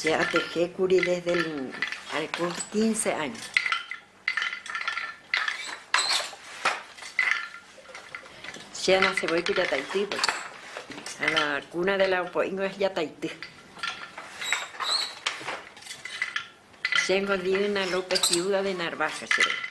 Che atejékuri desde el, al kúmpli quince año. Che anasevoi ku jataity pues. A la cuna de la opo'ingo es jataity. Chéngo Diana López viuda de Narvaja che rei.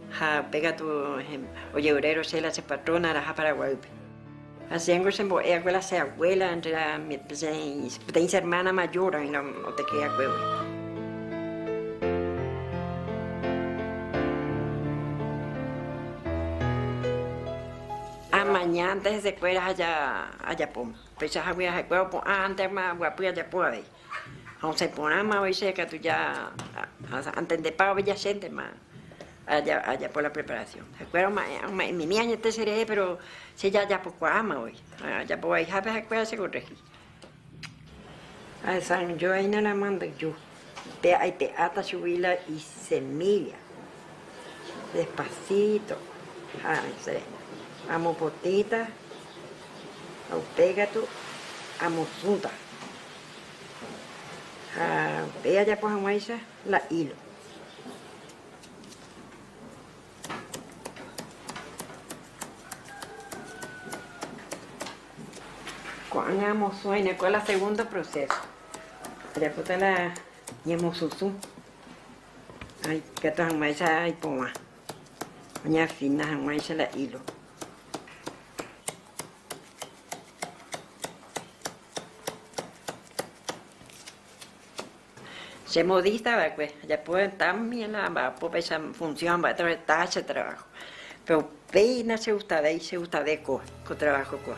Ha pe katu ojevyrai Rosela la che patrona araha Paraguaýpe. Ha chéngo chembo'e hague la che abuela, entre la peteĩ che hermana mayor oĩ la otekye haguégui. Amaña antes hesekuéra aja ajapóma. Upeichahagui ha'ekuéra opu'ã antes oguapy ajapo avei. Ha osẽ porãmavoi che katu ja antendepa oveja chéntema ajapo la preparación. Ha'ekuéra oma'ẽmimi añete cherehe, péro che jajapokuaámavoi. Ajapo vaihápe ha'ekuéra chekorregi. Ahesaranjoaína la manduju, pe aipe'áta chugui la isemílla, despasíto ha che amopotĩta ha upe katu amosũta. Ha upéi ajapo hag̃uáicha la hilo. Ko'ág̃a amosũaína, kua la segunda proceso. Ajapóta la ñemosusũ, ha ikatu hag̃uáicha ipovã, oñeafina hag̃uáicha la hilo. Che modista va'ekue ajapo también la amba'apópaicha función amba'éta reta che trabajo, pero upéina che gustavéi, che gustave ko ko trabajo kua.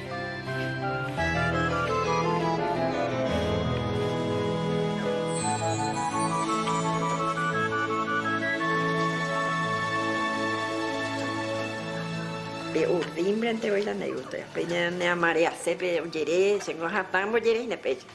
Pe urdímbrante oĩ la Neruda, pe ñane amaré asépe ojere, che ngo hatã mbojereíne péicha.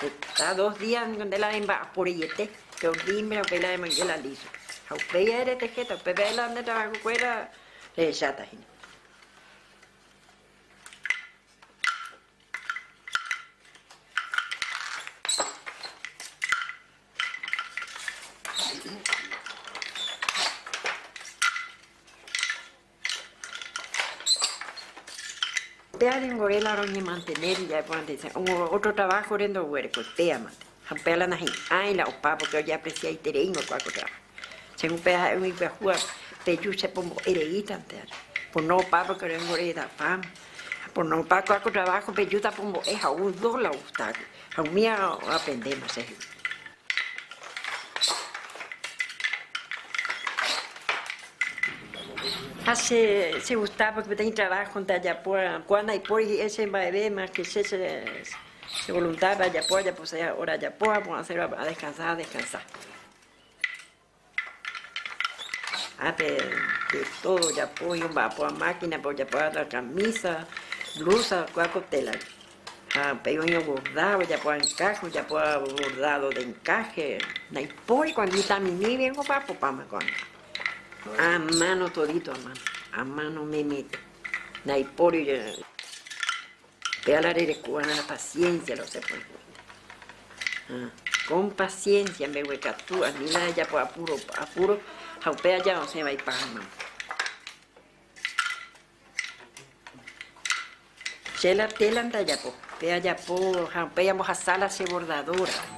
Heta dos día ningo nde la remba'aporeiete, pe olimbre, upéi la remoinge la liso. Ha upéi ae retehéta, upépe ae la nde trabajo kuéra rehecháta hína. Péa renvore la roñemantene rire aipóva nde che ótro traváhore ndoguerekói, péamante. Ha upéva la nahi'ãi la opa, pórke ojeapresiaiterei ndoikuaa ko trávaho. Che upéva ha'e umi pyahúva, peju che pombo'e reítante ári. Pono opa pórke renvore edapáma. Ha pono opa kuaa ko traváho pejúta pombo'e ha ou dos la ogusta águi. Ha umíva aprendeéma che hegui. Ha che chegusta porque peteĩ travahonte ajapo ko'ã ndaipóri hi'e che mba'eve más que che chevoluntápe ajapo ajaposãi hora ajapo ha porãsérõ adeskansa adeskansa. Ápe de tódo ojapo oĩ omba'apoha mákinape ojapo váva kamísa, blúsa kuáko télape. Ha upéi oĩ oborda, ojapo váva enkáhe, ojapo váva bordádo de enkáhe. Ndaipóri ko'ã vitaminive omba'apopáma ko'ã. A máno todito a máno, a máno ome'ẽme. Ndaipóri. Pe ala rereko va'erã la paciencia la osẽ pórgui. Ha con paciencia mbeguekatu ani la rejapo apuro, apuro ha upe aja osẽ va ipágama. Che la tela ndajapo, pe ajapo ha upéi ambohasa la che bordadora.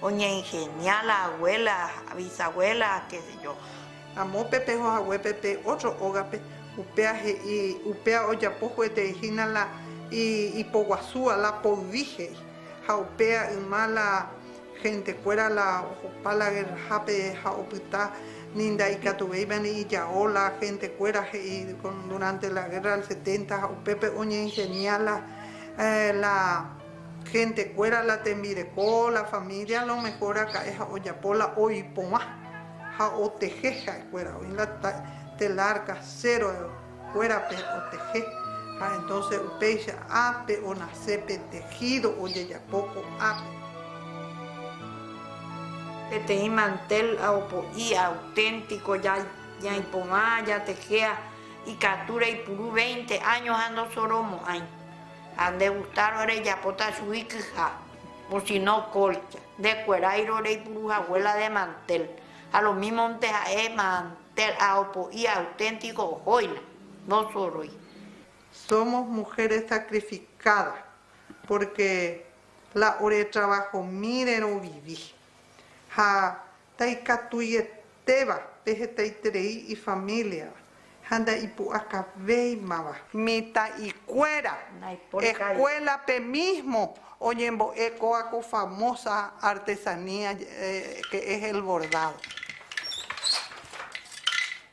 Oñeingenia la abuela, bisabuela, qué sé yo. Amo pe peho haguépe pe otro ógape, upéa he'i, upéa ojapo juetei hína la ipoguasúva, la poyvi he'i. Ha upéa yma la gentekuéra la ohopa la guerrahápe ha opyta ni ndaikatuvéiva ni ijao la gentekuéra he'i durante la guerra del setenta ha upépe oñeingenia la Hentekuéra la tembireko, la família alomehór raka'e ha ojapo la oiporã ha oteje ha'ekuéra. Oĩ la telar kasero kuérape oteje, ha entónse upéicha ápe onase pe tejído ojejapo ko'ápe. Peteĩ mantel ha opo'i auténtiko ñaiporã jateje ha ikatu reipuru veinte áño ha ndosoromo'ãi. Ha nde gustárõ rejapóta chugui kyha, osino kólcha. Ndekueráirõ reipuru hague la de mantel, ha lo mímonte ha'e mantel ha opo'i auténtiko ohóina, ndosorói. Somos mujeres sacrificadas, pórke la oretravahomíre rovivi. Ha Ndaikatuietéva pe hetaiterei ifamíliava ha ndaipu'akavéimava. Mitã'ikuéra eskuélape mísmo oñembo'e kóva ko famósa artesanía que es el bordado.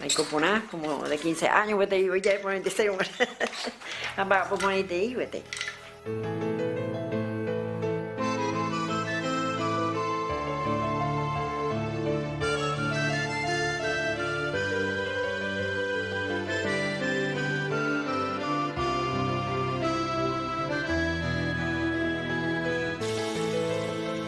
Aiko porã, kómo de kinse áño gueteri oijae porã entesero guarã, ha mba'apo porãitei gueteri.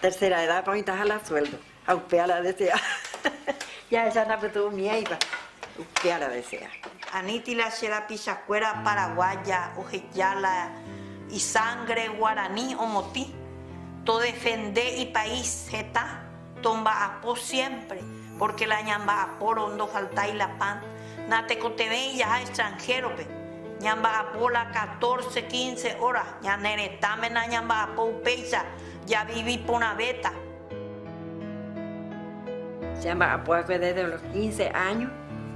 Tercera edad oĩtaha la sueldo ha upe aradesea jahecha napytyvõmiéiva upe aradesea. Aníti la che rapichakuéra paraguaya oheja la isangre guarani omotĩ, todefende ipais heta, tomba'apo siempre, porque la ñamba'apórõ ndofaltái la pan, Natekotevẽi jaha extranhérope, ñamba'apo la catorce, quince óra, ñane retãme nañamba'apo upéicha, javivi porãvéta. Jamba'apo hague desde los quince áño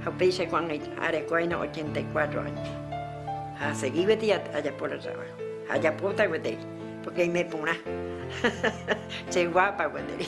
ha upéicha ko'ág̃a areko aína ochenta y cuatro áño. Ha asegi gueteri ajapo la traváho, ha ajapóta gueteri, pórke aime porã, cheguápa gueteri.